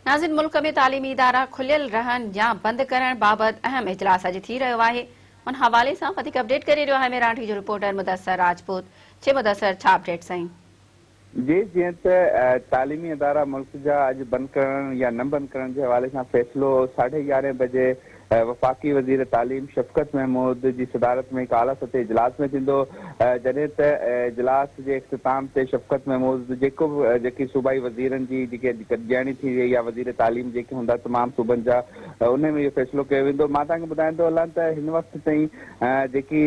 ناظرين ملڪ ۾ تعليمي ادارا کليل رهن يا بند ڪرڻ بابت اهم اجلاس اڄ ٿي رهيو آهي ان حوالي سان وڌيڪ اپڊيٽ ڪري رهيو آهي ميراڻ جو رپورٽر مدثر راجپوت جي مدثر ڇا اپڊيٽ سائين. جي جيئن ته تعليمي ادارا ملڪ جا اڄ بند ڪرڻ يا نه بند ڪرڻ جي حوالي سان فيصلو ساڍي يارهين بجي وفاقي وزير تعليم شفقت محمود جي صدارت ۾ هڪ اعليٰ سطحي اجلاس ۾ ٿيندو جڏهن ته اجلاس جي اختتام تي شفقت محمود جيڪو به جيڪي صوبائي وزيرن جي جيڪي اڄ گڏجاڻي ٿي وئي يا وزير تعليم جيڪي هوندا تمام صوبن جا انهي ۾ اهو فيصلو ڪيو ويندو مان توهان کي ٻڌائيندو هلان ته هن وقت تائين جيڪي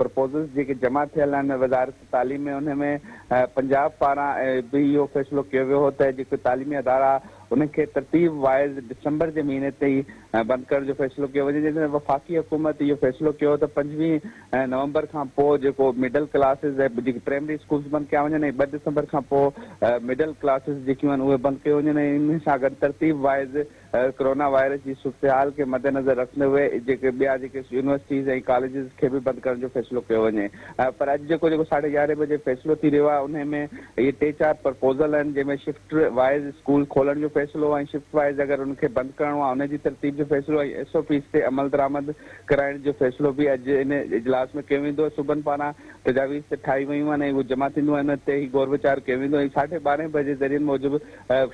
پروپوزلز جيڪي جمع ٿيل آهن وزارت تعليم ۾ انهي ۾ پنجاب پاران به اهو فيصلو ڪيو ويو هو ته جيڪي تعليمي ادارا انهن کي ترتيب وائز ڊسمبر جي مهيني تائين ۽ بند ڪرڻ جو فيصلو ڪيو وڃي جڏهن ته وفاقي حڪومت اهو فيصلو ڪيو ته پنجويهه نومبر کان پوء جيڪو مڊل ڪلاسز ۽ جيڪي پرائمري اسڪولز بند ڪيا وڃن ۽ ٻه ڊسمبر کان پوء مڊل ڪلاسز جيڪيون آهن اهي بند ڪيون وڃن ۽ انهي سان گڏ ترتيب وائز ڪرونا وائرس جي صورتحال کي مدنظر رکندي هئي جيڪي ٻيا جيڪي يونيورسٽيز ۽ ڪاليجز کي به بند ڪرڻ جو فيصلو ڪيو وڃي پر اڄ جيڪو جيڪو ساڍي يارهين بجي فيصلو ٿي رهيو آهي انهي ۾ اهي ٽي چار پرپوزل آهن جنهن ۾ شفٽ وائيز اسڪول کولڻ جو فيصلو ۽ شفٽ وائيز اگر ان کي بند ڪرڻو آهي ان جي ترتيب جو فيصلو ۽ ايس او پيز تي عملدرآمد ڪرائڻ جو فيصلو به اڄ ان اجلاس ۾ ڪيو ويندو صوبن پاران تجاويز ته ٺاهي ويون آهن ۽ اهي جمع ٿينديون ان تي هي غور ويچار ڪيو ويندو ۽ ساڍي ٻارهين بجي ذريعن موجب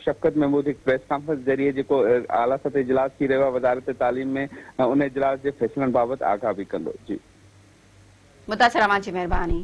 شفقت محمود هڪ پريس ڪانفرنس ذريعي جيڪو اعليٰ سطح اجلاس ٿي رهيو آهي وزارت تعليم ۾ ان اجلاس جي فيصلن بابت آگاهه به ڪندو جي متاثر اوهان جي مهرباني.